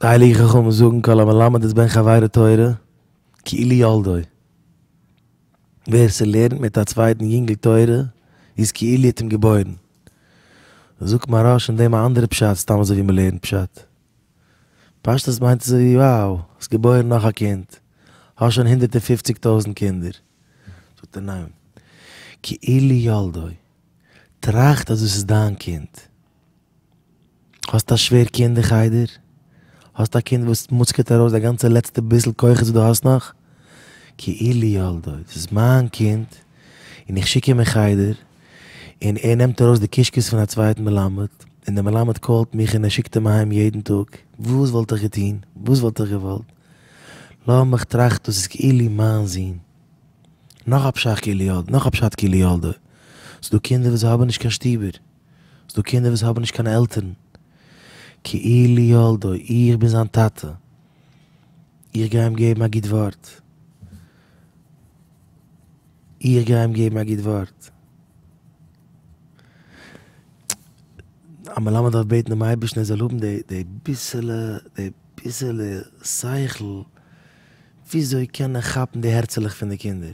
די הייליגע חכמים זאגן כל המלמד את בן חבירו תורה כאילו ילדו, ווער ס'לערנט מיט א צווייטן יונגל תורה איז כאילו ער האט אים געבוירן. זאגט מהרש אין דעם א אנדערע פשט סתם אזוי ווי מ'לערנט פשט. פשטות מיינט אזוי ווי wow האסט געבוירן נאך א קינד, האסט שוין הונדערט און פופציג טויזנט קינדער. זאגט ער ניין, כאילו ילדו, טראכט אז דאס איז דיין קינד. האסט א שווער קינד אין חדר? האסט א קינד וואס מוצקעט ארויס די גאנצע לעצטע ביסל כוחות וואס דו האסט נאך? כאילו יולדו, דאס איז מיין קינד און איך שיק אים אין חדר און ער נעמט ארויס די קישקעס פון א צווייטן מלמד און דער מלמד קאלט מיך און ער שיקט אים אהיים יעדן טאג, וואס וואלט איך געטון? וואס וואלט איך געוואלט? לאמיך טראכטן, דאס איז כאילו מיין זון. נאך א פשט כאילו יולדו, ס'דא קינדער וואס זיי האבן נישט קיין שטובער. ס'דא קינדער וואס האבן נישט קיין עלטערן. כאילו ילדו, איך בין זיין טאטע, איך גיי אים געבן א גוט ווארט. איך גיי אים געבן א גוט ווארט. א מלמד דארף בעטן דעם אייבערשטן ער זאל האבן די ביסעלע, די ביסעלע שכל, וויאזוי קען ער כאפן די הערצעלעך פון די קינדער.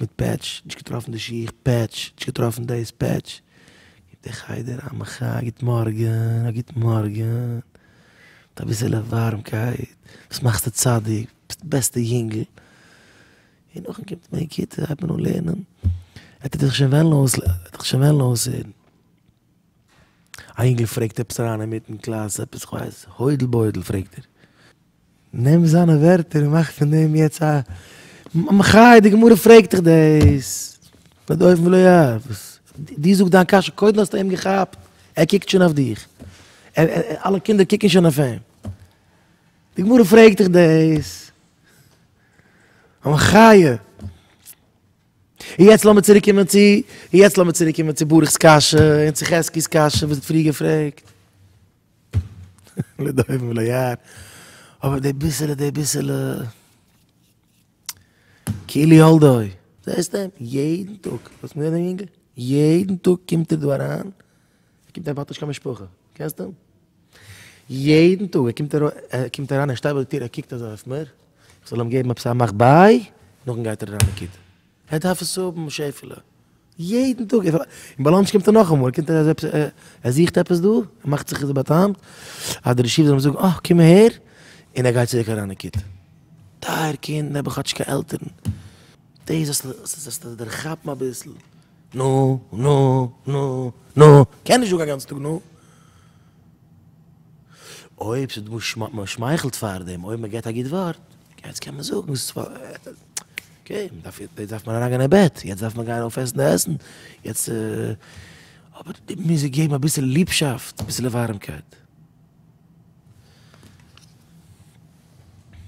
מיט פעטש, נישט געטראפן די שיך, פעטש, נישט געטראפן דאס, פעטש, גיבט דער חדר א מחאה, א גוט מארגען, א גוט מארגען, מיט אביסעלע ווארעמקייט, וואס מאכסטו צדיק, ביסט די בעסטע יונגל, און נאכדעם קומט מען אין כיתה, הייבט מען אן לערנען, ער טוט זיך שוין וועלן אויס, ער טוט זיך שוין וועלן אויסהערן, א יונגל פרעגט עפעס אריין אינמיטן קלאס, עפעס כ'ווייס, הוידל בוידל פרעגט ער. נעם זיינע ווערטער און מאך פון דעם יעצט א מחי, די גמרא פרעגט דיך דאס, די דופן ולא יער, וואס דו זאג דיין קשיא קודם האסטו אים געכאפט, ער קוקט שוין אויף דיך, אלע קינדער קוקן שוין אויף אים, די גמרא פרעגט דיך דאס, א מחי, און יעצט לאמיר צוריק קומען צו, און יעצט לאמיר צוריק קומען צו ברכ'ס קשיא און צו חזקי'ס קשיא וואס ער האט פריער געפרעגט. לדובים וליער, אבער די ביסעלע די ביסעלע קילי הולדוי, זעסט אים יעדן טאג, האסט מיר דעם יונגל? יעדן טאג קומט ער דא אריין, ער קומט אהער האט נישט קיין משפחה, קענסט אים? יעדן טאג ער קומט ער קומט אריין ער שטייט ביי די טיר ער קוקט אזוי אויף מיר, איך זאל אים געבן עפעס א מאך ביי, נאכדעם גייט ער אריין אין כיתה. ער דארף עס האבן שעפעלע, יעדן טאג, און ביי לאנטש קומט ער נאכאמאל, ער קומט ער ער זוכט עפעס דא, ער מאכט זיך איז באטעמט, אז די רשיב זאל אים זאגן אה קום אהער, און ער גייט צוריק אריין אין קיט. טייער קינד, און האבן כאטש קיין עלטערן, דאס זאלסטו דערכאפן אביסל, נו, נו, נו, נו, קען נישט זאגן א גאנצן טאג נו. אויב ס'איז דא שמ מען שמייכלט פאר דעם אויב מען געבט א גוט ווארט יעצט קען מען זאגן ס'איז פאר אקעי מען דארף יעצט דארף מען אריין גיין אין בעט יעצט דארף מען גיין אויף עסן די עסן יעצט אבער די מוז זיי געבן אביסעלע ליבשאפט אביסעלע ווארעמקייט.